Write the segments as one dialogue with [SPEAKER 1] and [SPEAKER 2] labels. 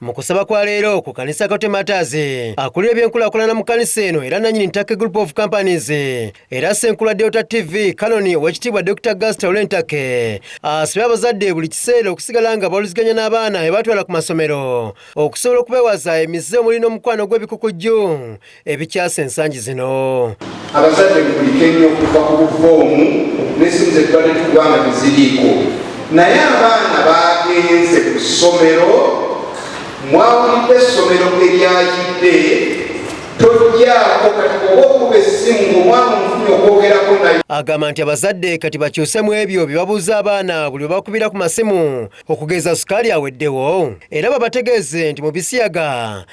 [SPEAKER 1] mu kusaba kwa leero ku kanisa kate mataazi akulira ebyenkulakulana mu kanisa eno era nanyini ntake group of companies era senkula delta tv kanoni owekitiibwa dr gasta olentake asabye abazadde buli kiseera okusigala nga bawuliziganya n'abaana ebatwala ku masomero okusobola okubewaza emize omuli n'omukwano gw'ebikukujju ebikyase ensangi zino abazadde
[SPEAKER 2] mukulike nnyo okuva ku bufoomu nesimu zetubadde tukubanga teziriiko naye abaana bagenze ku ssomero mwawulidde essomero eryayidde tojjaako kati oba okuba essimu ngaomwana omufunyi okwogerako naye agamba nti abazadde
[SPEAKER 1] kati bakyuse mu ebyo bye babuuza abaana buli bwe bakubira ku masimu okugeza sukaali aweddewo era babategeeze nti mu bisiyaga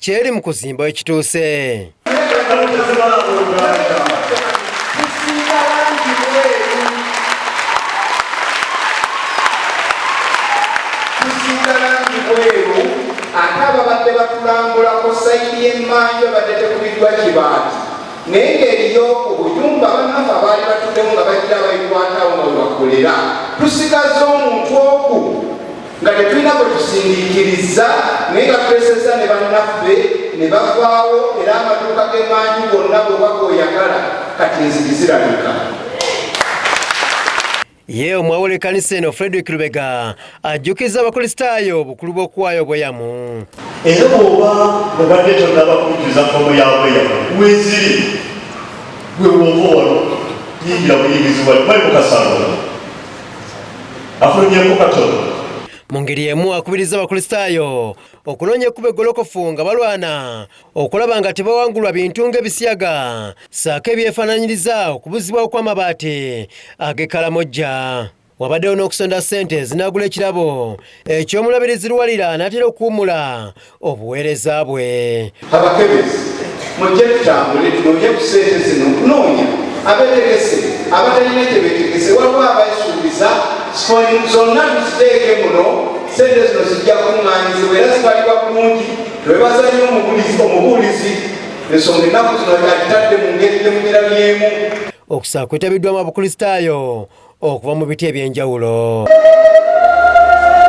[SPEAKER 1] kyeri mu kuzimba ekituuse
[SPEAKER 2] ate ababadde batulambulako sayidi y'emmanju abadde tekubiddwa kibaati naye ng'eriyo obuyumba banafe abaali batuddemu nga bajja babikwatawo nga webakolera tusigaza omuntu oku nga tetulina bwe tusindiikirizza naye nga tweseza ne bannaffe ne bavaawo era amaduuka g'emaanyi gonna bw'oba g'oyagala kati enzigi zirabika
[SPEAKER 1] ye omwawo lekanisa eno frederick lubega ajjukiza abakristaayo obukulu bw'okuwaayo obweyamu era oba
[SPEAKER 3] obadde tonaba kujjuza fomu ya bweyamu weziri gwe wooba wano yingira buyingizibwa bali mukasanga afunyeeko katono mu ngeri
[SPEAKER 1] emu akubirizza abakristaayo okunoonya ekkuba eggolokofu nga balwana okulaba nga tebawangulwa bintu ng'ebisiyaga saako ebyefaananyiriza okubuzibwa okw'amabaati ag'ekalamojja wabaddewo n'okusonda ssente zinaagula ekirabo eky'omulabirizi luwalira n'atera okuwummula obuweereza bwe. Abakebezi
[SPEAKER 2] mujje tutambule tunoonye ku ssente zino okunoonya abetegese abatalina gye betegese waliwo abesuubiza zonna tuziteeke muno ssente zino zijja kuŋŋaanyizibwa era zibalibwa bulungi lwebazanyo omubuulizi ensonga ennaku zino alitadde mu ngeri gyemugirabyemu
[SPEAKER 1] okusaa kwetabiddwamu abakristaayo okuva mu biti eby'enjawulo